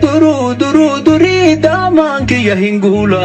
Duruu duruu durii daamaan kiyya hin guula.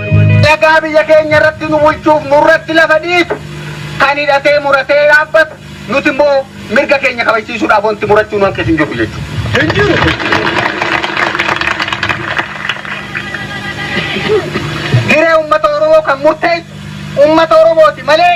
Dagaa biyya keenya irratti nu bulchuuf nurratti lafa dhiitu kan hidhatee muratee dhaabbatu nuti immoo mirga keenya kabajsiisuudhaaf wanti murachuu nu hanqisu hin jiru jechuudha. Hin jiru. Hiree uummata Oromoo kan murteessu uummata Oromooti malee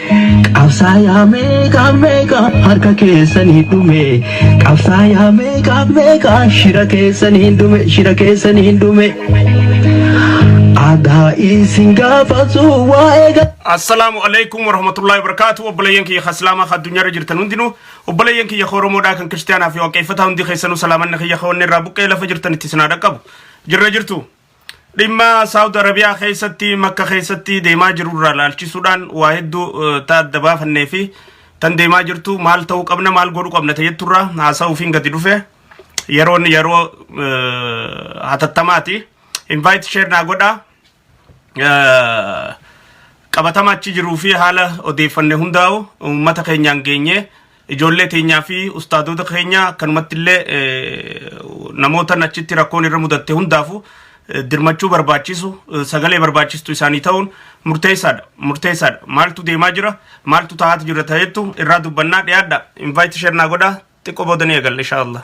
Qabsaayaa meeqaa meeqaa harka keessanii dhume Qabsaayaa meeqaa meeqaa shira keessanii dhume shira keessanii dhume Adaa isin gaafatu waa'ee ga- Assalaamu alaikum warahmatullahi wabarakatuh obboleeyyan kiyya ka islaamaa ka addunyaarra jirtan hundinuu obboleeyyan kiyya ka oromoodhaa kan kiristaanaa fi waaqeeffataa hundi keessanuu salaamanni kiyya ka wanni irraa buqqee lafa jirtan itti sinaa dhaqqabu jirra jirtu Dhimma Saawud Arabiyaa keessatti makka keessatti deemaa jiru irraa laalchisuudhaan waa hedduu eh, ta adda baafannee fi tan deemaa jirtu maal ta'uu qabna maal godhuu qabna ta jettu irraa haasa'uufiin gadi dhufe yeroon yeroo eh, hatattamaati. Invite share naa godhaa. Eh, qabatama achi jiruu fi haala odeeffanne hundaa'u uummata keenyaan geenye Ijoollee teenyaa fi ustaadoota keenya akkanumatti illee namoota achitti rakkoon irra mudatte hundaafu dirmachuu barbaachisu sagalee barbaachistu isaanii ta'uun murteessaadha murteessaadha maaltu deemaa jira maaltu taa'aatu jira ta'eettu irraa dubbannaa dhiyaadha invite share naa godhaa xiqqoo booda ni eegalla inshaa Allah.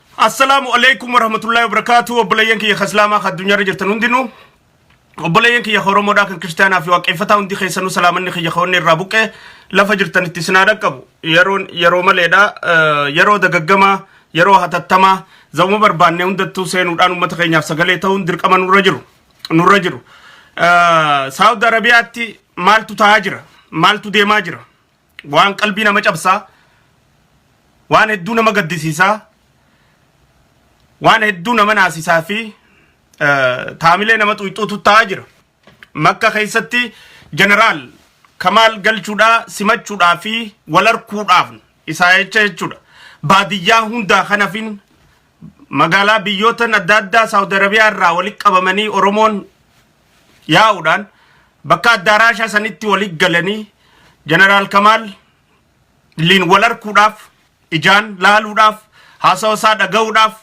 Assalaamu alaikum warahmatullahi wabarakatuh obboleeyyan kiyya ka islaamaa ka addunyaarra jirtan hundinuu obboleeyyan kiyya ka oromoodhaa kan kiristaanaa fi waaqeffataa hundi keessanuu salaamanni kiyya ka onni irraa buqqee lafa jirtanitti isin haa dhaqqabu yeroon yeroo maleedha eh, yeroo dagaggamaa yeroo hatattamaa zamuma barbaannee hundattuu seenuudhaan uummata keenyaaf sagalee ta'uun dirqama nurra jiru nurra jiru Eh, saawud arabiyaatti maaltu ta'aa jira maaltu deemaa jira waan qalbii nama cabsaa waan hedduu nama gaddisiisaa waan hedduu nama naasisaa fi eh, taamilee nama xuyxuutu ta'aa jira makka keessatti jeneraal kamaal galchuudhaa simachuudhaa fi wal arguudhaaf isaa jecha jechuudha baadiyyaa hundaa kanafin magaalaa biyyootan adda addaa saawud arabiyaa irraa walitti qabamanii oromoon yaa'uudhaan bakka addaaraashaa sanitti walitti galanii Jeneraal Kamaal liin wal arguudhaaf ijaan laaluudhaaf haasawa isaa dhaga'uudhaaf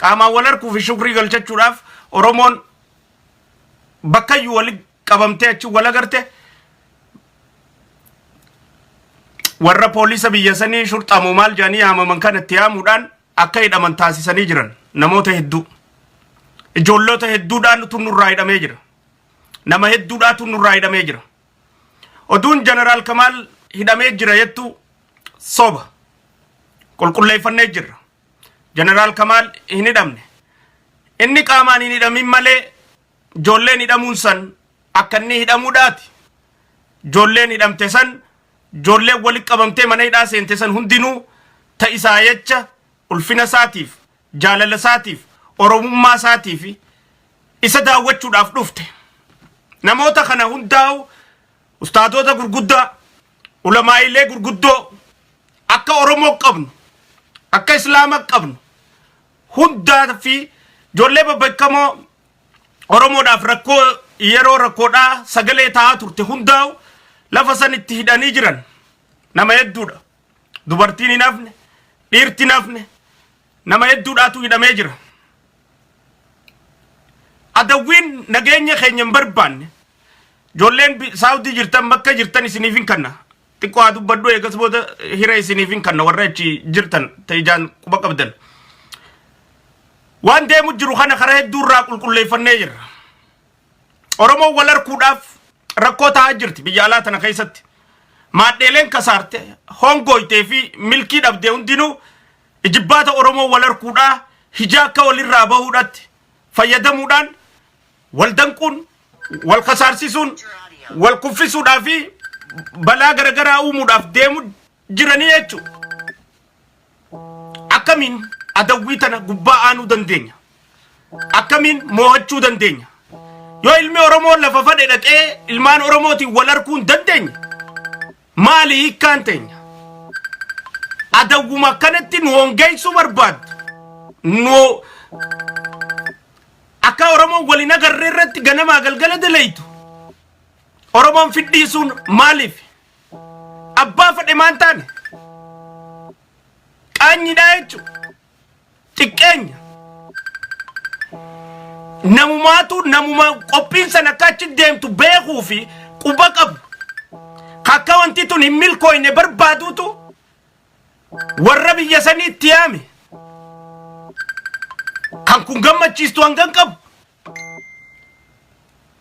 qaamaan wal arguu fi shukrii galchachuudhaaf Oromoon bakkayyuu walitti qabamtee achi wal agarte warra poolisa biyya sanii shurxamoo maal jedhanii yaamaman kanatti yaamuudhaan akka hidhaman taasisanii jiran namoota hedduu ijoolloota hedduudhaan tun nurraa hidhamee jira nama hedduudhaa tun nurraa hidhamee jira oduun jeneraal kamaal hidhamee jira jettu soba qulqulleeffannee jirra jeneraal kamaal hin hidhamne inni qaamaan hin hidhamin malee ijoolleen hidhamuun san akka inni hidhamuudhaati ijoolleen hidhamte san Ijoolleen walitti qabamtee mana hidhaa seente san hundinuu ta isaa jecha ulfina isaatiif, jaalala isaatiif, Oromummaa isaatiif isa daawwachuudhaaf dhufte. Namoota kana hundaa'uu ustaadoota gurguddaa, ulamaa'iilee gurguddoo akka Oromoo qabnu, akka Islaama qabnu hundaa fi ijoollee babbeekamoo Oromoodhaaf rakkoo yeroo rakkoodhaa sagalee ta'aa turte hundaa'u lafa san itti hidhanii jiran nama hedduudha. Dubartiin hin hafne, dhiirti hin hafne, nama hedduudhaatu hidhamee jira. Adawwiin nageenya keenya hin barbaanne ijoolleen bi- saawdii jirtan bakka jirtan isiniif hin kanna Xiqqoo haa dubbadhu eegas booda hira isiniifin kanna warra achi jirtan ta ijaan quba qabdan. Waan deemu jiru kana karaa hedduu irraa qulqulleeffannee jirra. Oromoon wal harkuudhaaf rakkoo ta'aa jirti biyya alaa tana keessatti. Maadheeleen kasaarte hongooytee fi milkii dhabdee hundinuu ijibbaata Oromoo wal harkuudhaa hijaa akka walirraa bahuudhaatti fayyadamuudhaan wal danquun, wal kasaarsisuun, wal kuffisuudhaa fi balaa garagaraa uumuudhaaf deemu jiranii jechu. Akkamiin adawwii tana gubbaa aanuu dandeenya? Akkamiin moohachuu dandeenya? Yoo ilmi Oromoo lafa fadhe dhaqee ilmaan Oromootiin wal harkuu hin dandeenye maali hiikkaan teenya? Adawwuma akkanatti nu hongeessuu barbaaddu. Nu Akkaa Oromoon wal hin agarre irratti ganamaa galgala dalaydu Oromoon fidhiisuun maaliif? Abbaa fedhe maan taane? Qaanyidhaa jechu xiqqeenya. Namumaatu namuma qophiin san akka achi deemtu beekuu fi quba qabu. Akka wanti tun hin milkooyne barbaaduutu warra biyya sanii itti yaame kan kun gammachiistu hangan qabu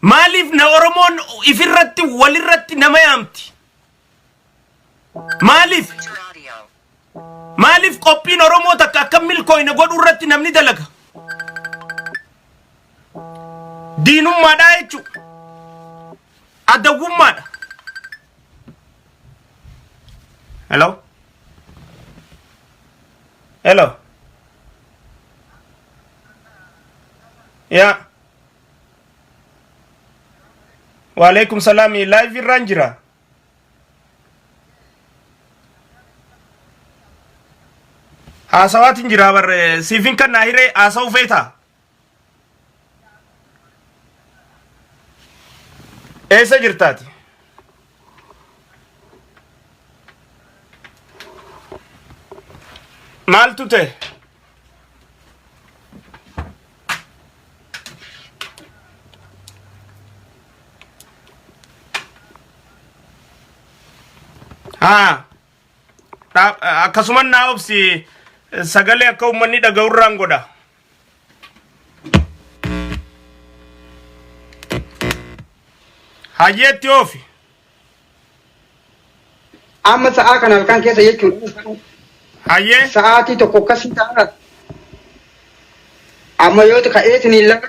maaliif na oromoon ifirratti walirratti nama yaamti maaliif maaliif qophiin oromoo takka akka milkooyne godhuu irratti namni dalaga diinummaadhaa jechuudha adawwummaadha Hello? Hello? Yeah. Waalaikum salam. Live irraan jira. Haasawaatiin jira barre siifin kan naa hiree haasawuu feetaa? Eessa jirtaati? Maaltu ta'e? Haa. Akkasuman naa obsi sagalee akka uummanni dhaga'urraan godha. Hayyeetti oofi. Amma sa'aa kana halkan keessa jechuudha. Hayyee. Sa'aatii tokko akkasii ta'a. Amma yoo ka'ee isiniin lafa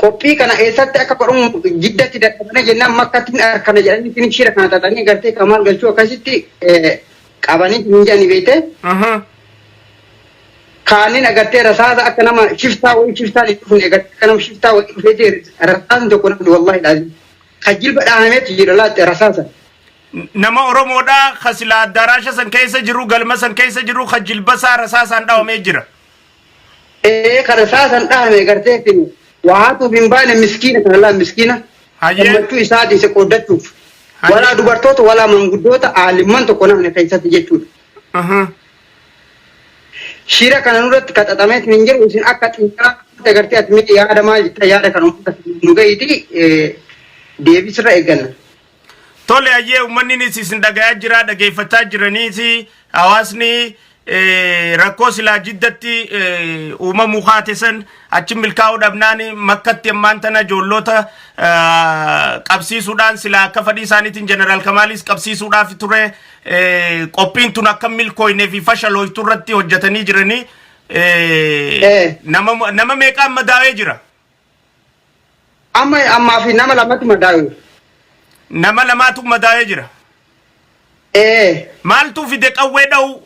Qophii kana eessatti akka godhamu jiddatti dadhabne jennaan makkatti hin arkanna jedhanii isin shira kana xaxanii gartee kamaal galchuu akkasitti qabanii hin jedhani beekte. Kaaniin agartee rasaasa akka nama shiftaa wayii shiftaan hin dhufne agartee akka nama shiftaa wayii dhufeeti rasaasni tokko namni wallaahi dhaazii. Kan jilba dhaahameetu jira laatte rasaasa. Nama Oromoodhaa ka sila addaraasha san keessa jiru galma san keessa jiru ka jilbasaa rasaasaan dhawamee jira. ee kana saa san dhahame gartee isin waa haatuuf hin baane miskiina kana laa miskiina Hayyee. gammachuu isaa dhiise qooddachuuf Hayyee. walaa dubartoota walaa manguddoota aalimman tokko namni keessatti jechuudha. Aha. Shira kana nurratti qaxaxamee isin hin jiru isin akka xiyyaara agartee ati miidhi yaada maal jetta yaada kana uummata nu gahiiti deebisirra eegganna. Tole hayyee uummanninis isin dhagayaa jira dhageeffachaa jiraniis hawaasni eh, rakkoo silaa jiddatti eh, uumamuu kaate san achi milkaa'uu dhabnaan makkatti ammaan tana ijoolloota ah, qabsiisuudhaan silaa akka fadhii isaaniitiin jeneraal Kamaalis qabsiisuudhaaf ture eh, qophiin tun akka milkooynee fi fashalooytu irratti hojjetanii jiranii eh, Eh. nama nama meeqaan madaawee jira. Amma ammaa fi nama lamatti madaa'e. Nama lamaatu madaa'ee jira. Ee. Maaltu fide qawwee dha'uu?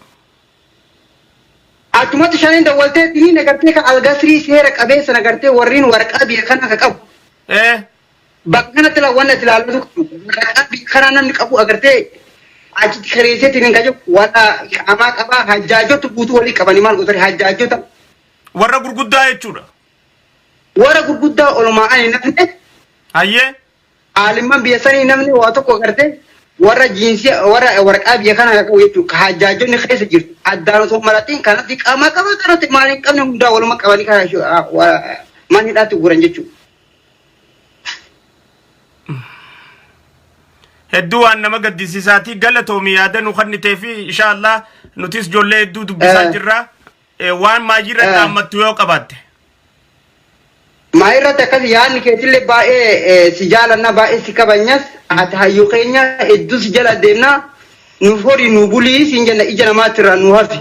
Achumatti shaniin dawwaltee dinii nagartee ka algasrii seera qabeessa nagartee warriin waraqaa biyya kanaa ka qabu. Ee. Bakka kanatti la wanna itti ilaalatu qabu. Waraqaa biyya kanaa namni qabu agartee achitti kireesseetiin hin qabu. Warra qaamaa qabaa hajjaajota guutuu walii qabanii maal gootanii hajjaajota. Warra gurguddaa jechuudha. Warra gurguddaa olmaa'an hin hafne, Hayyee. aalimman biyya sanii hin hafne waa tokko gartee warra jiinsii warra waraqaa biyya kana qabu jechuudha. Ka hajjaajonni keessa jirtu addaan osoo hin maratiin kanatti qaama qaba kanatti maal hin qabne hundaa waluma qabanii kana shu- ah, wa- mana hidhaatti guuran jechuudha. Hedduu waan nama gaddisiisaati. Galatoomi yaada nu kennitee fi inshaallah nutis ijoollee hedduu dubbisaa Eh. jirra. Eh, Waan maayii irratti Eh. dhaammattu yoo qabaatte. Maa irratti akkas yaadni keetillee baay'ee eh, si jaalanna baay'ee si kabanyas ati hayyuu keenya hedduu si jala deemna nuuf horii nu bulii siin jenna ija namaatti irraa nu hafi.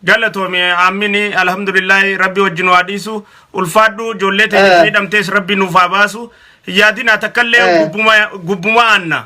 Galatoomi ammini alhamdulillahi rabbi wajjin waa dhiisu ulfaadhu ijoollee ta'e Eh. miidhamtees rabbi nuuf haa baasu hin yaadinaa takkallee Eh. gubbuma gubbuma aanna.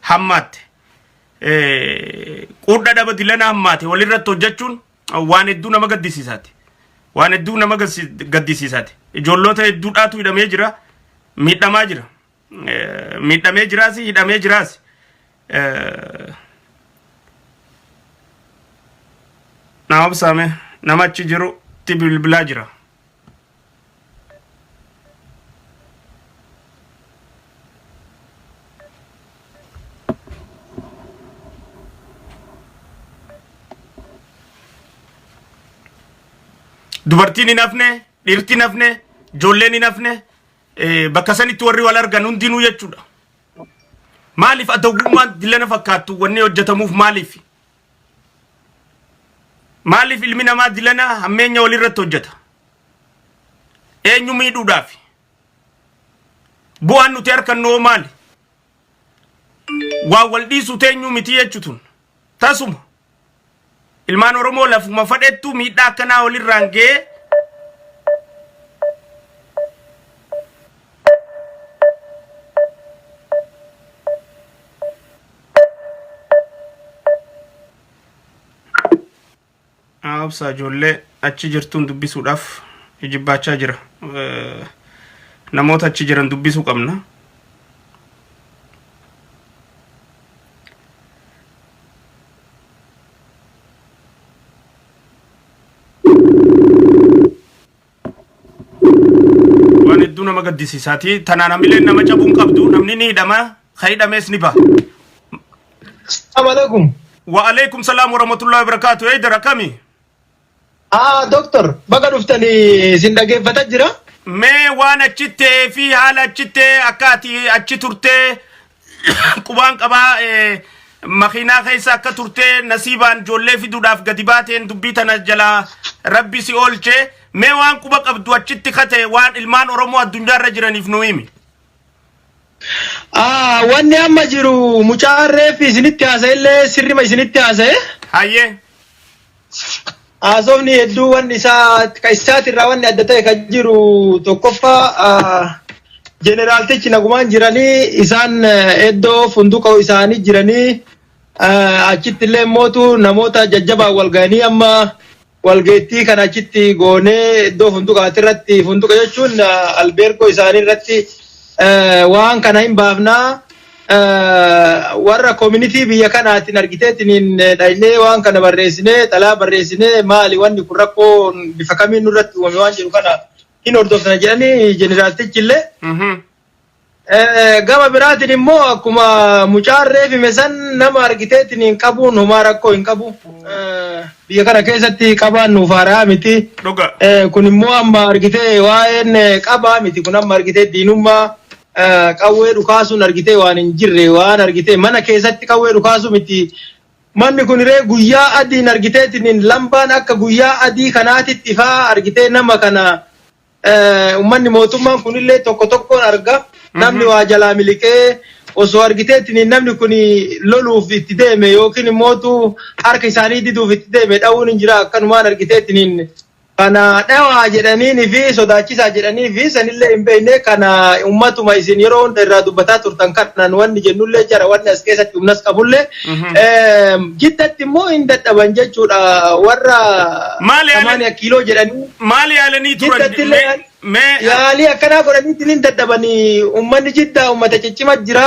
hammaatte. Quudhaa dhaba dilana hammaate walirratti hojjechuun waan hedduu nama gaddisiisaati. Waan hedduu nama gaddisiisaati. Ijoolloota hedduudhaatu hidhamee jira. Miidhamaa jira. Miidhamee jiraas hidhamee jiraas. Nama obsaame nama achi jirutti bilbilaa jira. dubartiin hin hafne dhirti hin hafne ijoolleen hin hafne eh, bakka sanitti warri wal argan hundinuu jechuudha maaliif adawwummaan dillana fakkaattu wanni hojjetamuuf maaliif Maaliif ilmi namaa dilana hammeenya walirratti hojjeta? Eenyu miidhuudhaafi? Bu'aan nuti harkannu hoo maali? Waan wal dhiisu teenyuu miti jechutun. Tasuma. Ilmaan Oromoo lafuma fadhettu miidhaa akkanaa walirraan ga'ee Obsa ijoollee achi jirtuun dubbisuudhaaf ijibbaachaa jira. Eh, Namoota achi jiran dubbisuu qabna. waan hedduu nama gaddisiisaati tanaan hamileen nama cabuu hin qabdu namni ni hidhama ka hidhamees ni baha Assalamu alaikum. wa'aleekum salaam warahmatullahi wabarakaatu eeydar akkami Ah, doctor, baga dhuftanii isin dhaggeeffata jira. mee waan achittee fi haala achittee akka ati achi turtee qubaan qabaa eh, makiinaa keessa akka turtee nasiibaan ijoollee fiduudhaaf gadi baateen dubbii tana jalaa rabbi si oolchee mee waan quba qabdu achitti kate waan ilmaan oromoo addunyaa irra jiraniif nu himi. Ah, wanni amma jiru mucaan reeffi isinitti haasa'e illee sirrima isinitti haasa'e. Hayyee. Haasofni hedduu wanni isaa ka isaatirraa wanni adda ta'e kan jiru tokkoffaa ah, jeneraaltichi nagumaan jiranii isaan eh, iddoo funduqa isaanii jiranii ah, achitti illee mootu namoota jajjabaan wal ga'anii amma walgeettii kan achitti goonee iddoo funduqaati irratti funduqa jechuun ah, albeergoo isaanii irratti eh, waan kana hin baafnaa warra community biyya kanaatiin argiteetiniin dhaynee waan kana barreessinee xalaa barreessinee maali wanni kun rakkoo bifa kamiin nurratti uumame waan jedhu kana hin hordofna jedhanii jeneraaltichi illee Mhm. Eh, gama biraatiin immoo akkuma mucaan reefime san nama argiteetiniin qabuun homaa rakkoo hin qabu. Eh, Biyya kana keessatti qabaan nuuf haaraa miti. Dhuga. Eh, Kun immoo amma argitee waa'een eh, qabaa miti kun amma argitee diinummaa qawwee dhukaasuun argitee waan hin jirre waan argitee mana keessatti qawwee dhukaasuu miti manni kun ree guyyaa adiin argiteetiin lambaan akka guyyaa adii kanaatitti ifaa argitee nama kana eh, ummanni mootummaan kunillee tokko tokkoon arga namni waa jalaa miliqee osoo argiteetiin namni kun loluuf itti deeme yookiin immootu harka isaanii diduuf itti deeme dha'uun hin jira akkanumaan argiteetiin Kana dhawaa jedhaniin fi sodaachisaa jedhanii fi sanillee hin beekne kana ummatuma isin yeroo hunda irraa dubbataa turtan kanaan wanni jennullee jara wanni as keessatti humnas qabullee jiddatti immoo hin dadhaban jechuudha warra Maal yaalan- samaaniya kiiloo jedhanii Maal yaalanii turan? jiddatti illee Mee- mee- yaalii akkanaa godhaniitiin hin dadhabanii ummanni jiddaa ummata ciccima jira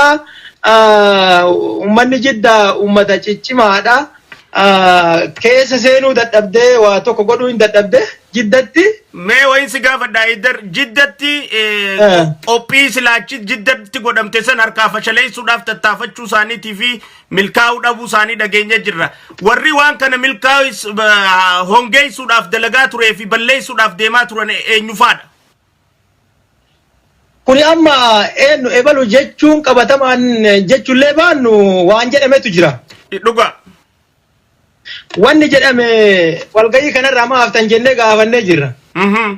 Ah, ummanni jiddaa ummata ciccimaadha. keessa seenuu dadhabdee waa tokko godhuu hin dadhabde jiddatti. Mee wayin si gaafadha Iddar jiddatti qophii silaachi jiddatti godhamte san harkaa fashaleessuudhaaf tattaafachuu isaaniitii fi milkaa'uu dhabuu isaanii dhageenya jirra. Warri waan kana milkaa'is hongeessuudhaaf dalagaa turee fi balleessuudhaaf deemaa turan eenyufaadha? Kuni amma eennu ebalu jechuun qabatamaan jechullee baannu waan jedhametu jira. I dhugaa. Wanni jedhame walgahii kanarraa maa haftan jennee gaafannee jirra. Mhm.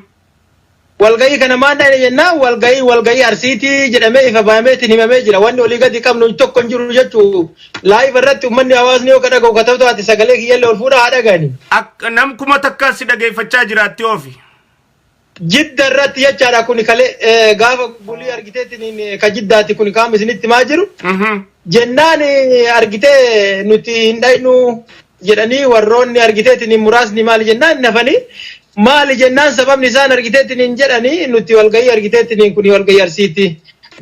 Walgahii kana maan dhayne jennaan walgahii walgahii Arsiiti jedhamee ifa bahameetiin himamee jira. Wanni olii gadi qabnu tokko hin jiru jechuu live irratti ummanni hawaasni yoo ka dhagahu ka ta'u taate sagalee kiyyallee ol fuudhaa haa dhagahani. Ak- Nam kuma takka si dhageeffachaa jiraatti oofi. Jidda irratti jechaadha kun kale eh, gaafa bulii argiteetiin eh, ka jiddaati kun kaama isinitti maa jiru. Jennaan eh, argitee nuti hin dhaynu jedhanii warroonni argiteetiin muraasni maali jennaan nafanii maali jennaan sababni isaan argiteetiin jedhanii nuti walgahii argiteetiin kun walgahii arsiiti.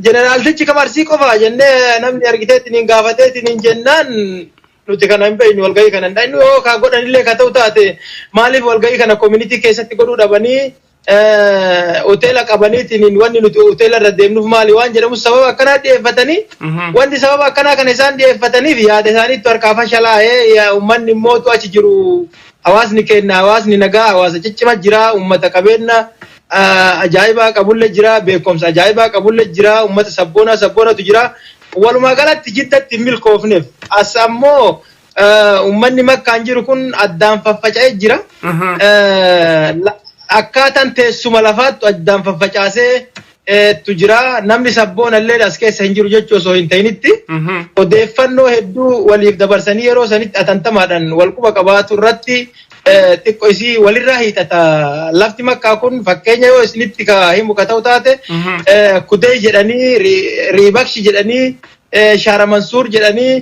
Jeneraaltichi kam arsii qofa jennee namni argiteetiin gaafateetiin jennaan nuti kana hin beeknu walgahii kana hin dhaqnu yoo kaa godhanillee ka ta'u taate maaliif walgahii kana community keessatti godhuu dhabanii hoteela qabaniitiin wanni nuti hoteela irra deemnuuf maali waan jedhamu sababa akkanaa dhiyeeffatanii wanti sababa akkanaa kana isaan dhiyeeffataniif yaada isaaniitu harkaa fashalaa'ee uummanni immootu achi jiru hawaasni keenya hawaasni nagaa hawaasa ciccima jira uummata qabeenya ajaa'ibaa qabulle jira beekumsa ajaa'ibaa qabulle jira uummata sabboonaa sabboonatu jira Walumaa galatti Jiddatti hin milkoofneef. As ammoo ummanni Makkaan jiru kun addaan faffaca'ee jira. Akkaataan teessuma lafaattu addaan faffacaaseetu jira. Namni sabboona illee as keessa hin jiru jechuu osoo hin ta'initti odeeffannoo hedduu waliif dabarsanii yeroo sanitti atantamaadhaan wal quba qabaatu irratti xiqqo isii walirraa hiixata lafti makkaa kun fakkeenya yoo isinitti ka himu ka ta'u taate kudee jedhanii riibakshi jedhanii shaara mansuur jedhanii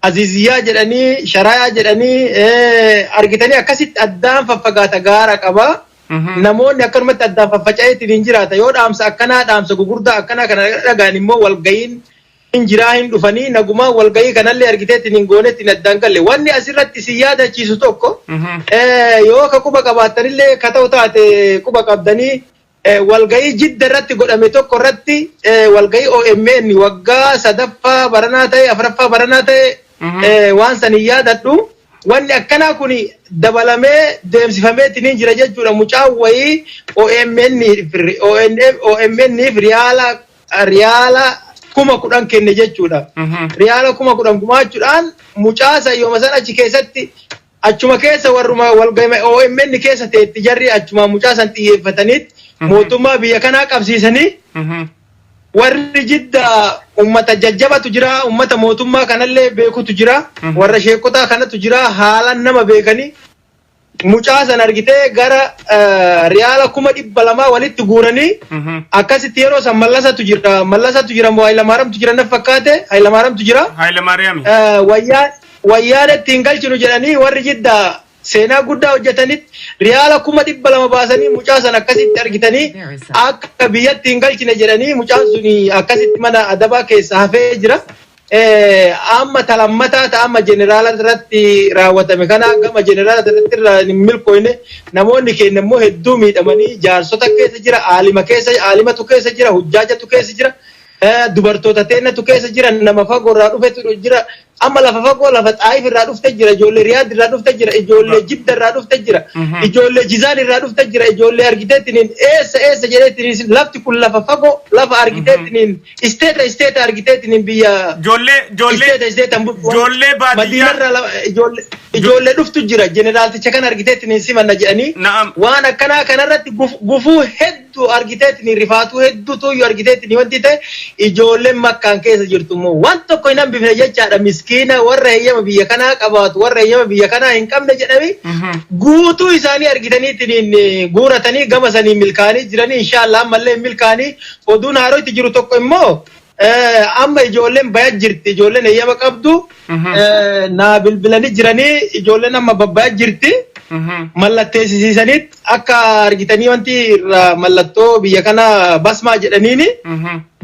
aziziyyaa jedhanii sharayaa jedhanii argitanii akkasitti addaan faffagaata gaara qaba. Namoonni akkanumatti addaan faffaca'eetiin hin jiraata yoo dhaamsa akkanaa dhaamsa gugurdaa akkanaa kana dhagaan immoo walga'iin Hin jiraa hin dhufanii nagumaan walgahii kanallee argitee ittiin hin goone ittiin addaan galle. Wanni asirratti isin yaadachiisu tokko yoo ka quba qabaattanillee ka ta'u taate quba qabdanii walgahii jidda irratti godhame tokko irratti walgahii omn waggaa sadaffaa baranaa ta'e afraffaa baranaa ta'e waan san hin yaadadhu. Wanni akkanaa kun dabalamee deemsifamee ittiin hin jira jechuudha. Mucaan wayii OMN OMNif riyaala riyaala kuma kudhan kenne jechuudha. Riyaala kuma kudhan gumaachuudhaan mucaa sayyoma san achi keessatti achuma keessa warruma walgahii OMN keessa ta'etti jarri achuma mucaa san xiyyeeffataniitti mootummaa biyya kanaa qabsiisanii warri jidda ummata jajjabatu jira ummata mootummaa kanallee beekutu jira warra sheekotaa kanatu jira haalan nama beekanii mucaa san argitee gara riyaala kuma dhibba lamaa walitti guuranii akkasitti yeroo san mallasatu jira mallasatu jira moo haylamaaramtu jira naf fakkaate haylamaaramtu jira Haayila Maariyaami. wayyaa wayyaan ittiin galchinu jedhanii warri jidda seenaa guddaa hojjetanitti riyaala kuma dhibba lama baasanii mucaa san akkasitti argitanii akka biyyatti hin galchine jedhanii mucaan sun akkasitti mana adabaa keessa hafee jira Amma ta lammataa ta amma jeneraala irratti raawwatame kana gama jeneraala irratti irra hin milkooyne namoonni keenya immoo hedduu miidhamanii jaarsota keessa jira aalima keessa aalimatu keessa jira hujjaajatu keessa jira dubartoota teennatu keessa jira nama fagoo irraa dhufetu jira amma lafa fagoo lafa xaayif irraa dhufte jira ijoollee riyaad irraa dhufte jira ijoollee jidda irraa dhufte jira ijoollee jizaan irraa dhufte jira ijoollee argiteettiniin eessa eessa jedheettiniin lafti kun lafa fagoo lafa argiteettiniin Isteeta isteeta argiteetiin biyya Ijoollee ijoollee isteeta isteetan bultu. ijoollee baadiyyaa Madiinarraa lama- ijoollee ijoollee dhuftu jira jeneraalticha kan argiteetiin hin simanna jedhanii na'am waan akkanaa kanarratti guf- gufuu hedduu argiteetiin rifaatuu hedduu tuyyuu argiteetiin wanti ta'e ijoolleen makkaan keessa jirtu immoo waan tokko hin hambifne jechaadha miskiina warra heeyyama biyya kanaa qabaatu warra heeyyama biyya kanaa hin qabne jedhanii Mhm. guutuu isaanii argitaniitiin guuratanii gama sanii milkaanii jiranii inshaallah ammallee hin milkaanii Oduu naaroo itti jiru tokko immoo amma ijoolleen baya jirti ijoolleen eeyyama qabdu naa bilbilanii jiranii ijoolleen amma babbaya jirti mallatteessisiisanii akka argitanii wanti irraa mallattoo biyya kana basmaa jedhaniini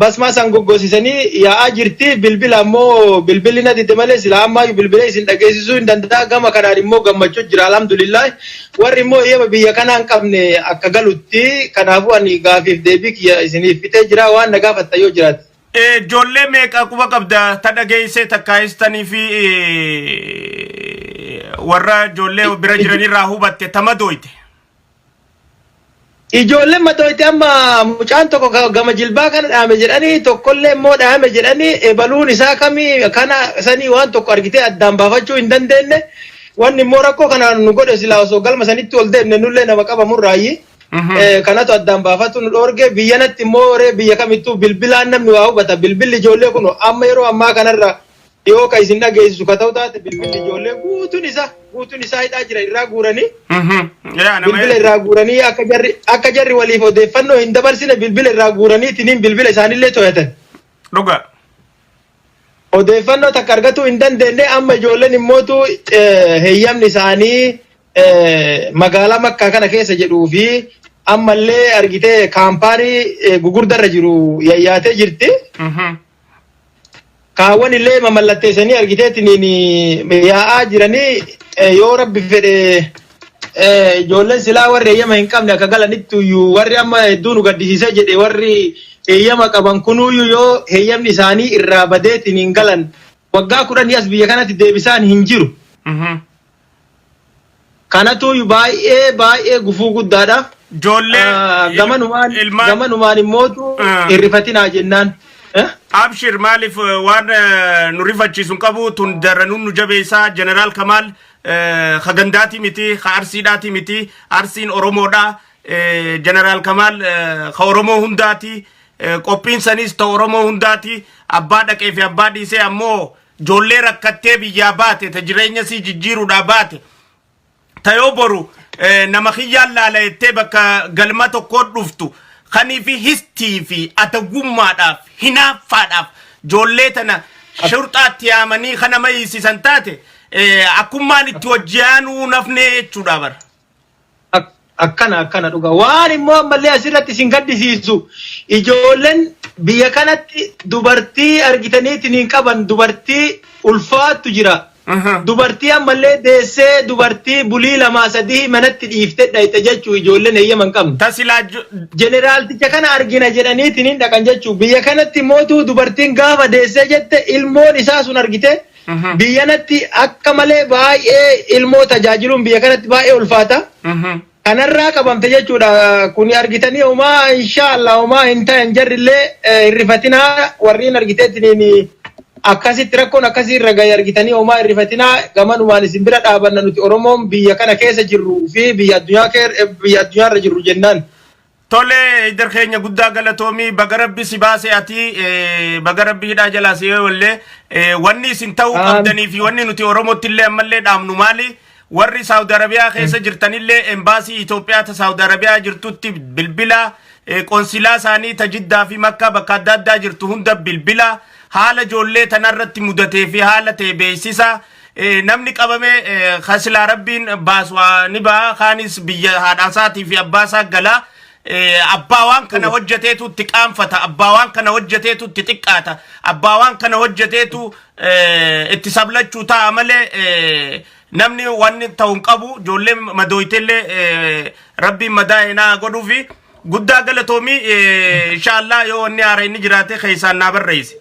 basmaa san goggosisanii yaa'aa jirti bilbila ammoo bilbilli na didde malee silaa ammaayyu bilbilee isin dhageessisuu hin danda'a gama kanaan immoo gammachuu jira alhamdulillah Warri immoo eeyyama biyya kanaa hin qabne akka galutti kanaafuu ani gaafiif deebii kiyya isiniif fixee jira waan na gaafattan yoo jiraate. Ijoollee meeqa quba qabda ta dhageessee takkaayis taniifi warra ijoollee bira jiranirraa hubatte tama dooyte. Ijoolleen matooyti amma mucaan tokko ka- gama jilbaa kana dhaame jedhanii tokkollee immoo dhaame jedhanii ebaluun isaa kamii kana sanii waan tokko argitee addaan baafachuu hin dandeenye wanni immoo rakkoo kana nu godhe silaa osoo galma sanitti ol deemne nullee nama qabamurraayyi. Mhm. Eh, kanatu addaan baafatu nu dhoorge biyyanatti immoo ree biyya kamittuu bilbilaan namni waa hubata bilbilli ijoollee kun amma yeroo ammaa kanarra dhiyoo ka isin dhageessisu ka ta'u taate bilbilli ijoollee guutuun isaa guutuun isaa hidhaa jira irraa guuranii Yaa nama bilbila irraa guuranii akka jarri akka jarri waliif odeeffannoo hin dabarsine bilbila irraa guuraniitiin bilbila isaanillee to'atan. dhugaa. Odeeffannoo takka argatuu hin dandeenye amma ijoolleen immootu eh, heeyyamni isaanii eh, magaalaa makkaa kana keessa jedhuu fi ammallee argitee kaampaanii eh, gugurdarra jiru yayyaatee jirti. Kaawwan illee mamallatteessanii argiteetiin yaa'aa jiranii yoo rabbi fedhe ijoolleen silaa warri eeyyama hin qabne akka galanitti iyyuu warri amma hedduu nu gaddisiisee jedhe warri eeyyama qaban kunuyyuu yoo eeyyamni isaanii irraa badeetiin hin galan waggaa kudhanii as biyya kanatti deebisaan hin jiru. Kanatuuyu baay'ee baay'ee gufuu guddaadha. Ijoollee Ah, il- Gamanumaan ilmaan gamanumaan immootu Ah. hin rifatinaa jennaan. Eh? Abshir maaliif eh, waan eh, nu rifachiisu hin qabu tun daranuun nu jabeessaa jeneraal Kamaal eh, ka gandaati miti ka arsiidhaati miti arsiin Oromoodha eh, jeneraal Kamaal eh, ka Oromoo hundaati eh, qophiin saniis ta Oromoo hundaati abbaa dhaqee fi abbaa dhiisee ammoo Ijoollee rakkattee biyyaa baate ta jireenya sii jijjiiruudhaa baate ta yoo boru eh, nama kiyyaan laala jettee bakka galma tokkoo dhuftu kanii fi histii fi atagummaadhaaf hinaaffaadhaaf ijoollee tana shurxaatti yaamanii kana mayiisisan taate eh, akkummaan itti hojjeanuu nafnee jechuudha bara. Ak- akkana akkana dhuga waan immoo ammallee asirratti isin gaddisiisu ijoolleen biyya kanatti dubartii argitaniitiin hin qaban dubartii ulfaattu jira Aha. dubartii ammallee deessee dubartii bulii lamaa sadii manatti dhiiftee dhayxe jechuu ijoolleen heeyyama hin qabne Tasilaa ju- jeneraalticha kana argina jedhaniitiin hin dhaqan jechuu biyya kanatti mootuu dubartiin gaafa deessee jette ilmoon isaa sun argite Biyya kanatti akka malee baay'ee ilmoo tajaajiluun biyya kanatti baay'ee ulfaata. Kanarraa qabamte jechuudha. Kuni argitanii homaa inshaa Allah homaa hin ta'an jarrillee eh, hin rifatinaa warriin argiteetiin akkasitti rakkoon akkasii irra gahe argitanii homaa hin rifatinaa gamanumaan isin bira dhaabanna nuti Oromoon biyya kana keessa jirru fi biyya addunyaa keer- eh, biyya addunyaa irra jirru jennaan. Tolee idar keenya guddaa galatoomii baga rabbi si baase ati eh, baga rabbi hidhaa jalaa si wallee eh, wanni isin ta'uu Aam. qabdanii fi wanni nuti Oromootti illee ammallee dhaamnu maali warri Saawudi Arabiyaa keessa jirtanillee embaasii Itoophiyaa ta Saawudi Arabiyaa jirtutti bilbila eh, qonsilaa isaanii ta Jiddaa fi Makkaa bakka adda addaa jirtu hunda bilbila haala ijoollee tanarratti mudatee fi haala ta'e beeksisa Eh, namni qabame eh, kan silaa rabbiin baasu haa- ni ba'a kaanis biyya haadhaasaatii fi abbaasaa gala Eh, abbaa waan kana hojjeteetu itti qaanfata abbaa waan kana hojjeteetu itti xiqqaata abbaa waan kana hojjeteetu eh, itti sablachuu ta'a malee eh, namni wanni ta'u hin qabu ijoolleen madooytellee eh, rabbiin madaa hinaa godhuufi guddaa galatoomii eh, inshaallah yoo wanni haara inni jiraate keessaan naa barreessi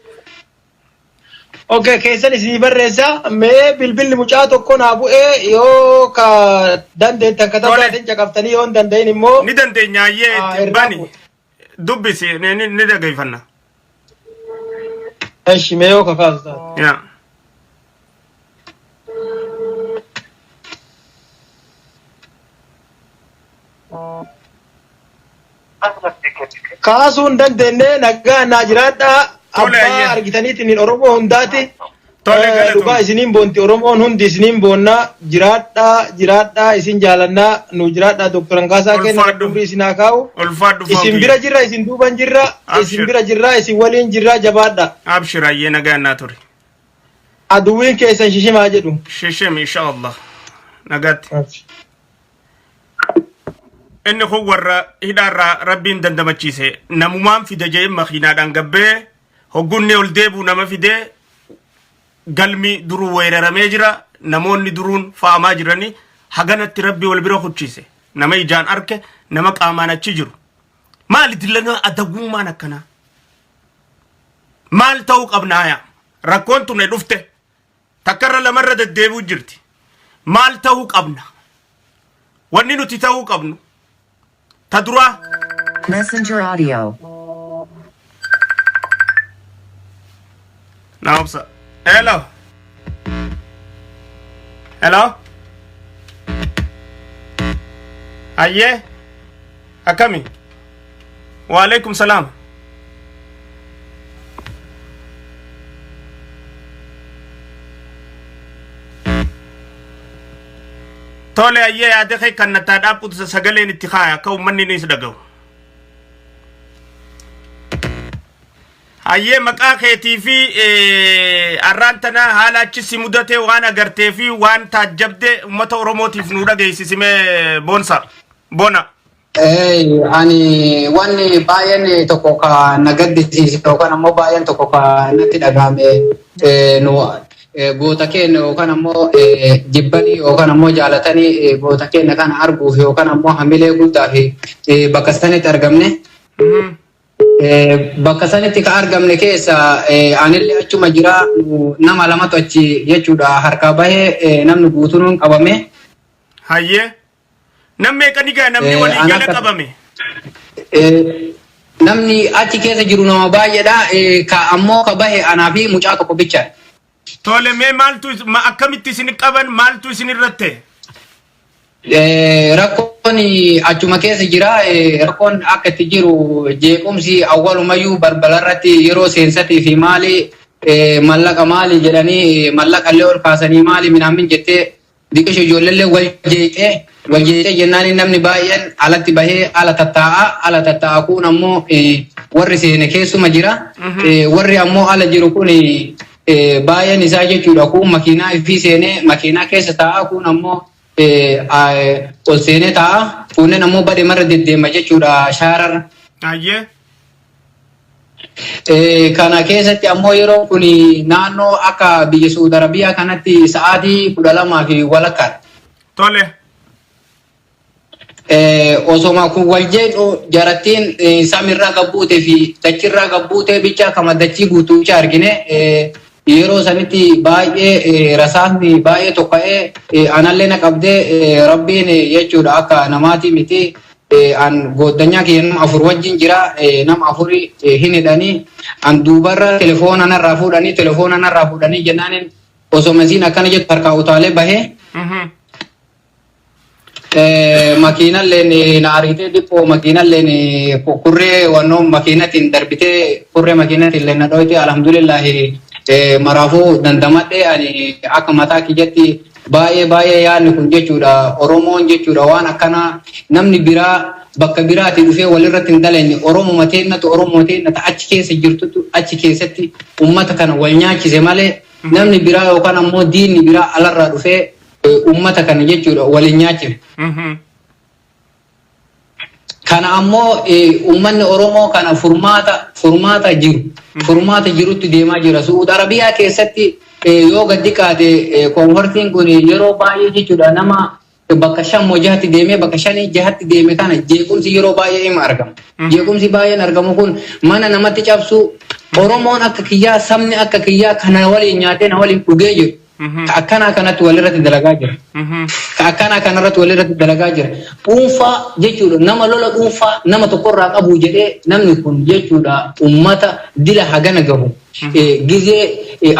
Ok keessan isinii barreessa mee bilbilli mucaa tokko naa bu'ee yoo ka dandeettan ka Tole. tasaatiin caqaftanii yoo hin danda'in immoo ni dandeenya ayyee Ah, itti irraa bani bu'e. dubbisi ni- ni ni dhaggeeffanna eshi mee yoo kakaasu taate. yaa kaasuu hin dandeenye nagaa naa jiraadhaa Tole, abbaa ayyee. argitaniitiin hin oromoo hundaati Tole, Eh, galatoomi. dhugaa isiniin boonti oromoon hundi isiniin boonnaa jiraadhaa jiraadhaa isin jaalannaa nu jiraadhaa doktor Angaasaa keenya Ulfaadhu. rabbi isin haa kaa'u Ulfaadhu isin Fawqiyya. bira jirra isin duuban jirra Abshir. isin bira jirra isin waliin jirra jabaadha Abshir ayyee nagaan naa ture. aduwwiin keessan shishimaa jedhu Shishim insha Allah. Nagaatti. inni kun warra hidhaarraa rabbiin dandamachiise namumaan fide jee makiinaadhaan gabbee hoggunni ol deebuu nama fide galmi duruu weeraramee jira namoonni duruun fa'amaa jiranii haganatti rabbi wal bira kuchiise nama ijaan arke nama qaamaan achi jiru maali dillanaa adagummaan akkanaa maal ta'uu qabnaayaa rakkoon tunne dhufte Takka irra lama irra deddeebi'u jirti. Maal ta'uu qabna? Wanni nuti ta'uu qabnu ta duraa Messenger audio. na obsa. Hello. Hello. Ayyee. Akkami? Waalaikum salaam. Tole ayyee yaada kee kan nattaa dhaabbutu sagaleen itti kaaya akka uummanni ni si dhagahu. Ayyee maqaa keetii fi eh, arraan tana haala achi si mudatee waan agartee fi waan taajjabde uummata Oromootiif nu dhageessisimee boonsa. bona. Hey, ani wanni baay'een tokko ka na gaddisiise yookaan ammoo baay'een tokko ka natti dhagahame eh, nu eh, goota keenya yookaan ammoo eh, jibbanii yookaan ammoo jaalatanii eh, goota keenya kana arguuf yookaan ammoo hamilee guddaa fi eh, bakka sanitti argamne. Mhm. Eh, bakka sanitti ka argamne keessa eh, anillee achuma jira nu- nama lamatu achi jechuudha harkaa bahee eh, namni guutuun qabame. Hayyee. Nam meeqa ni ga'a namni Eh, walii gala anaka- qabame? Eh, namni achi keessa jiru nama baay'eedha Eh, ka ammoo ka bahe anaa fi mucaa tokko bicha Tole mee maaltu is- ma- akkamitti isin qaban maaltu isin irratti? Eh, rakkoon achuma keessa jira Eh, rakkoon akka itti jiru jeequmsi awwalumayyuu balbala irratti yeroo seensatii fi maali eh, mallaqa maali jedhanii eh, mallaqa illee ol kaasanii maali minaamin jettee Diqishu ijoolleellee wal jeeqxee wal jeeqxee jennaaniin namni baay'een alatti bahee ala tattaa'a ala tattaa'a kuun ammoo warri seene keessuma jira warri ammoo ala jiru kun baay'een isaa jechuudha kuun makiinaa ifii seenee makiinaa keessa taa'a kuun ammoo ol seenee taa'a kuunneen ammoo badhe marra deddeema jechuudha shaarar. Ayyee. Kana keessatti ammoo yeroon kun naannoo akka biyya Suud Arabiyaa kanatti sa'aatii kudha lamaa fi walakkaadha. Tole. Osoma kun wal jedhu jarattiin samiirraa gabbuutee fi dachirraa gabbuutee bicha kama dachii guutuucha argine yeroo sanitti baay'ee rasaasni baay'ee tokka'ee anallee na qabdee rabbiin jechuudha akka namaatii miti an gooddanyaa kiyya nama afur wajjin jira nama afuri hin hidhanii an duubarra telefoona narraa fuudhanii telefoona narraa fuudhanii jennaanin osoo masiin akkana jettu harkaa utaalee bahee makiinalleen na ariitee dhiphoo makiinalleen kurree wannoo makiinatiin darbitee kurree makiinatiin na dhooyte alhamdulillahi maraafuu dandamadhee ani akka mataa kiyyatti Baay'ee baay'ee yaadni kun jechuudha Oromoon jechuudha waan akkanaa namni biraa bakka biraatii dhufee walirratti hin dhalanne Oromuma teennatu Oromoo teennata achi keessa jirtutu achi keessatti ummata kana wal nyaachise malee namni biraa yookaan ammoo diinni biraa alarraa dhufee ummata kana jechuudha wal hin nyaachifne. Kana ammoo uummanni Oromoo kana furmaata furmaata jiru furmaata jirutti deemaa jira. Su'uud Arabiyaa keessatti yoo gad xiqqaate koonfartiin kun yeroo baay'ee jechuudha nama bakka shan moo jahatti deemee bakka shanii jahatti deeme kana jeequmsi yeroo baay'ee ima argama. Jeequmsi baay'een argamu kun mana namatti cabsuu Oromoon akka kiyyaa sabni akka kiyyaa kana waliin nyaatee na waliin dhugee jiru. ka akkanaa kanatti walirratti dalagaa jira. Ka akkanaa kanarratti walirratti dalagaa jira. Dhuunfaa jechuudha nama lola dhuunfaa nama tokkorraa qabu jedhee namni kun jechuudha ummata dila hagana gahu. Gizee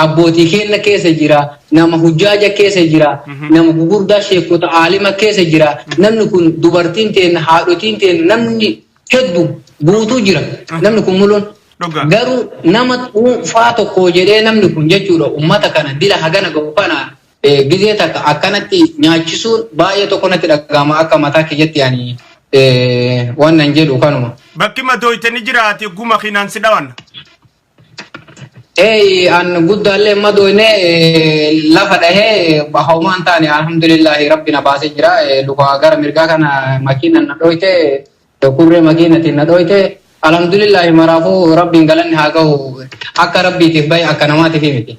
abbootii keenna keessa jira, nama hujjaaja keessa jira, nama gugurdaa sheekota aalima keessa jira. Namni kun dubartiin teenna, haadhotiin teenna namni heddu guutuu jira namni kun muloon. Dhugaa. Garuu nama dhuunfaa tokko jedhee namni kun jechuudha uummata kana dila hagana gahu kana eh, gizee takka akkanatti nyaachisuun baay'ee tokko natti dhaga'ama akka mataa kiyyatti ani eh, waan nan jedhu kanuma. Bakki madooyte ni jiraati guma kinaan si dhawanna. Eeyi an guddaallee hin madooyne lafa dhahe homaa hin taane alhamdulillahi rabbi na baasee jira luka gara mirgaa kana makiina na dhooyte kurree makiinatiin na dhooyte alhamdulillahi maraafuu rabbiin galanni haa gahu akka rabbiitiif bahe akka namaatiif miti.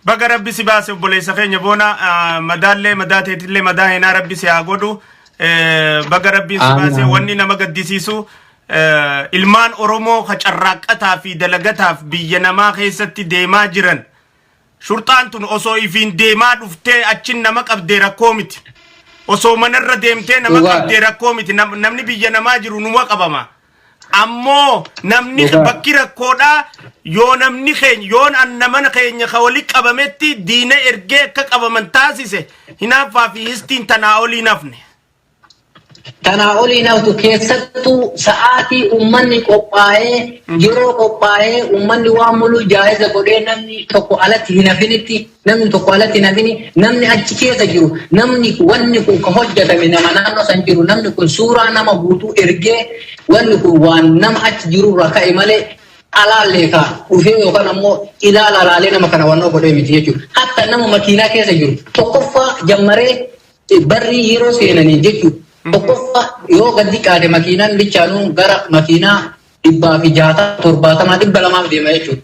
Baga rabbi si baase obboleessa keenya boona ah, madaallee madaa teetillee madaa heenaa rabbi si haa godhu Eh, baga rabbiin si Aamin, baase aamin. wanni nama gaddisiisu eh, ilmaan oromoo ka carraaqqataa fi dalagataaf biyya namaa keessatti deemaa jiran shurxaan tun osoo ifiin deemaa dhuftee achin nama qabdee rakkoo miti osoo manarra deemtee nama Dhugaadha. qabdee rakkoo miti Nam- namni biyya namaa jiru numa qabama Ammoo namni Dhugaa. bakki rakkoodhaa yoo namni keenya yoon anna mana keenya ka wali qabametti diina ergee akka qabaman taasise hinaaffaa fi histiin tanaa olii nafne. Kanaa olii naftu keessattuu sa'aatii uummanni qophaa'ee yeroo qophaa'ee uummanni waan muluu jaa'iza godhee namni tokko alatti hin hafinitti Namni tokko alatti hin hafini namni achi keessa jiru namni wanni kun ka hojjetame nama naannoo san jiru namni kun suuraa nama guutuu ergee wanni kun waan nama achi jirurraa ka'e malee alaallee ka dhufee yookaan ammoo ilaala alaalee nama kana wannoo godhee miti jechuudha. Hatta nama makiinaa keessa jiru tokkoffaa jammaree barrii yeroo seenanii jechuudha. Tokkoffaa yoo gadi qaade makiinaan bichaanuu gara makiinaa dhibbaa fi jaatama torbaatamaa dhibba lamaaf deema jechuudha.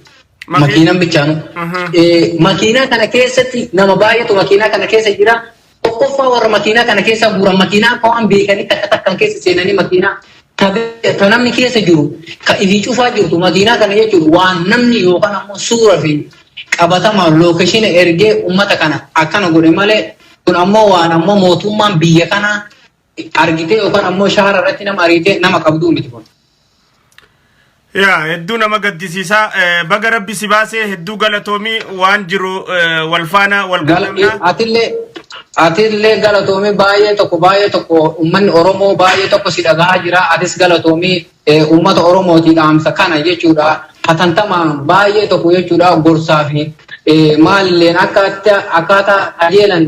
Makiin- Makiinan bichaanu. Mhm. Eh, Makiinaa kana keessatti nama baay'eetu makiinaa kana keessa jira. Tokkoffaa warra makiinaa kana keessa guuran makiinaa akka waan beekanii takka takkaan keessa seenanii makiinaa ka be- ka namni keessa jiru ka ifii cufaa jirtu makiinaa kana jechuun waan namni yookaan ammoo suura fi qabatama lookeshina ergee uummata kana akkana godhe malee kun ammoo waan ammoo mootummaan biyya kanaa argitee yookaan ammoo shaara irratti nama ariitee nama qabduu miti kun. Yaa hedduu nama gaddisiisaa Eh, baga rabbi si baasee hedduu galatoomii waan jiru eh, wal faana wal Gala- qunnamnaa. Atillee atillee galatoomii baay'ee tokko baay'ee tokko uummanni Oromoo baay'ee tokko si dhagahaa jira. Atis galatoomii eh, uummata Oromootii dhaamsa kana jechuudha. Hatantamaan baay'ee tokko jechuudha gorsaa fi eh, maalilleen akkaataa akkaataa qajeelan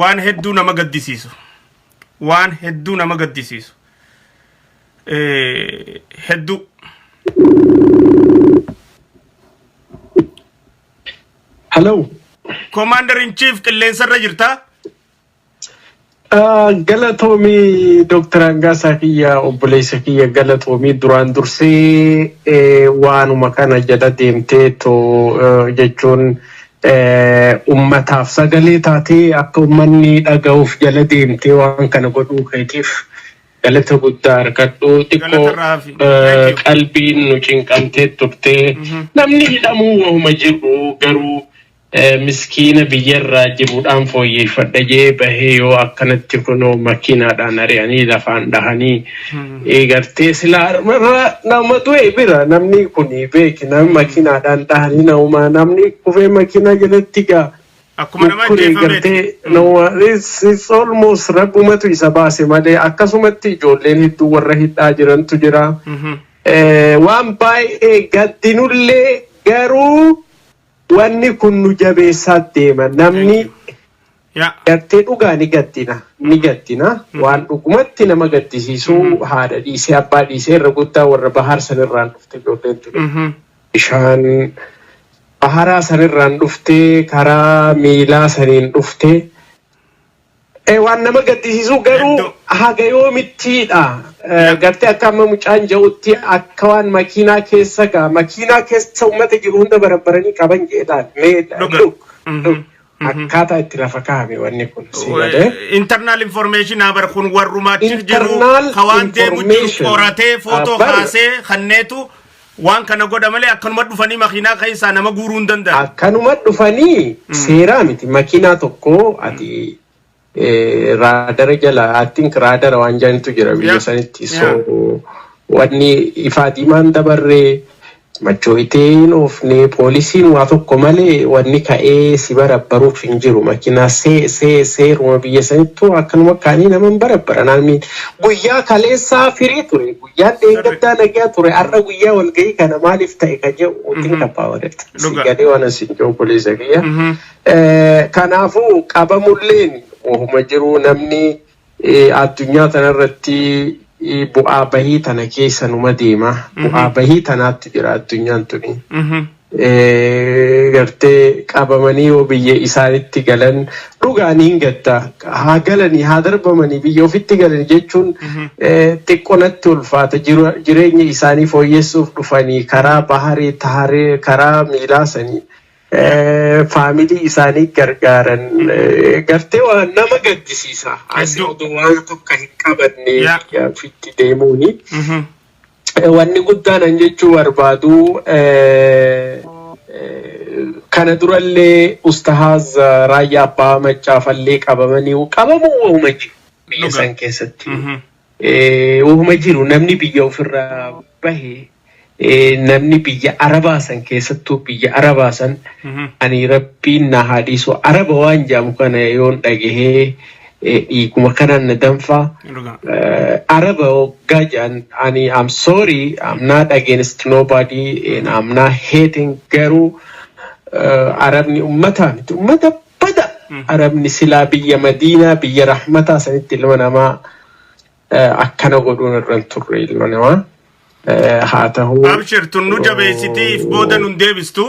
waan hedduu nama gaddisiisu waan hedduu nama gaddisiisu Eh, hedduu Hello. Commander in Chief qilleensarra jirta. Ah, Galatoomii Dooktar Angaasaa kiyya obboleessa kiyya galatoomii duraan dursee eh, waanuma kana jala deemtee too eh, jechuun eh, ummataaf sagalee taatee akka ummanni dhaga'uuf jala deemtee waan kana godhuu keetiif galata guddaa argadhu Galata xiqqoo irraa hafi. eh, Thank you. qalbiin nu cinqamtee turtee Mhm. namni hidhamuu wahuma jirru garuu Miskiina biyyarraa jirudhaan fooyyeeffadha jee bahee yoo akkanatti kunoo makiinaadhaan ari'anii lafaan dhahanii gartee silaa harmarraa nama du'e bira namni kun beeki nama makiinaadhaan dhahanii namumaa namni kufee makiinaa jalatti gaa Akkuma nama mukkuree ajjeefameeti. gartee nama it's, it's almost rabbumatu isa baase malee akkasumatti ijoolleen hedduu warra hidhaa jirantu jira. Eh, waan baay'ee gaddinullee garuu Wanni kun nu jabeessaa deema namni gartee dhugaa ni gaddina ni gaddina waan dhugumatti nama gaddisiisu haadha dhiisee abbaa dhiisee irra guddaa warra bahaar sanirraan dhufte ijoolleen tuni bishaan baharaa sanirraan dhufte karaa miilaa saniin dhufte Eh, waan nama gaddisiisu garuu Eddoo. haga yoomittiidha Eh, Yaa. gartee akka amma mucaan ja'utti akka waan makiinaa keessa gaa makiinaa keessa ummata jiru hunda barabbaranii qaban jeedhaan mee Dhuga. dhug Mhm. dhug Mhm. akkaataa itti lafa kaa'ame wanni kun si galee internal information habar kun warrumaa achi jiru Internal ka waan deemu jiru information. qoratee footoo Habar. kaasee kanneetu Waan kana godha malee akkanuma dhufanii makiinaa keessaa nama guuruu hin danda'an. Akkanuma dhufanii seeraa miti makiinaa tokko ati eh, raadara jala attin raadara waan jaanitu jira biyya Yeah. sanitti Yeah. so wanni ifaa diimaan dabarree machooyitee hin oofne poolisiin waa tokko malee wanni ka'ee si barabbaruuf hin jiru makiinaa see see seeruma biyya sanittu akkanuma kaanii nama hin barabbara naanni guyyaa kaleessaa firii ture Yaan dheengaddaa nagyaa ture har'a guyyaa walgahii kana maaliif ta'e kan jedhu wajjin Mhm. qabbaa walitti. Si Dhugaa. galee waan asiin jiru obboleessa kiyya. Mhm. Eh, Kanaafuu qabamulleen wahuma jiru namni eh, addunyaa tanarratti eh, bu'aa bahii tana keessa numa deema. Bu'aa Mhm. bahii tanaatti jira addunyaan tuni. Mhm. gartee qabamanii yoo biyya isaanitti galan dhugaan hin gadda haa galanii haa darbamanii biyya ofitti galan jechuun xiqqonatti ulfaata jireenya isaanii fooyyessuuf dhufanii karaa baharee taharee karaa miilaasanii faamilii isaanii gargaaran gartee waan nama gaddisiisa asii oduu waan tokko hin qabanne ofitti deemuuni. Wanni guddaan an jechuu barbaadu kana durallee ustahaaz raayyaa abbaa maccaafallee qabamanii qabamuu wahuma jiru biyya san keessatti wahuma jiru namni biyya ofirraa bahe namni biyya arabaa san keessattuu biyya arabaa san ani rabbiin na haa dhiisu araba waan jaamu kana yoon dhagahee dhiiguma kanaan na danfaa. Dhugaa. Uh, Araba hoggaa jedhan ani I'm sorry I'm not against nobody and I'm not hating garuu uh, Arabni ummataa miti ummata bada Mhm. Arabni silaa biyya Madiinaa biyya rahmataa sanitti ilma namaa uh, akkana godhuun irra hin turre ilma namaa uh, haa ta'uu Abshir tun nu jabeessitiif booda nun deebistu.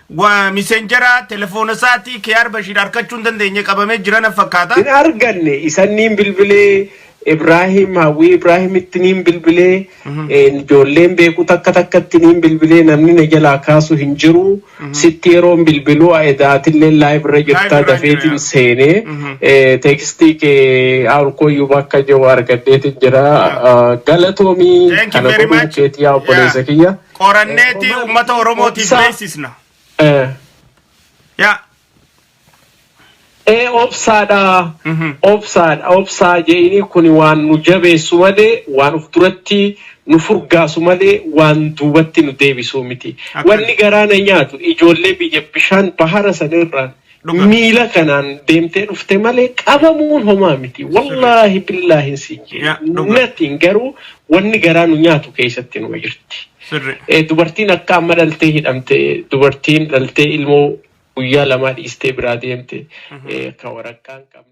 Wa misenjera telefoona isaatii Kiyaar Bashiir arkachuu hin dandeenye qabamee jira na fakkaata. Hin arganne isan niin bilbilee Ibraahim Hawwii Ibraahimitti niin bilbilee een, ijoolleen beeku takka takkatti niin bilbilee namni na jalaa kaasu hin jiru sitti yeroon bilbiluu edaatillee live irra jirtaa irra jira, dafeetiin yaa. seenee Mhm. ee, teekstii kee awulkooyyuu bakka jiru argadheetiin jira Ah, galatoomii Thank you kana very godhuu much. keetii yaa obboleessa Yeah. kiyya. qoranneeti ummata oromootiif beeksisna yaa ee obsaadha obsaadha obsaa je'inii kun waan nu jabeessu malee waan uf duratti nu furgaasu malee waan duubatti nu deebisuu miti wanni garaa na nyaatu ijoollee biyya bishaan bahara san irraan Dhuga. miila kanaan deemtee dhufte malee qabamuun homaa miti. Wallaahi billaahin si jee. Ya, dhuga. Natiin garuu wanni garaa nu nyaatu keessatti nu jirti. Sirri. Eh, dubartiin akka amma dhaltee hidhamte dubartiin dhaltee ilmoo guyyaa lamaa dhiistee biraa deemte eh, akka waraqaa hin qabne.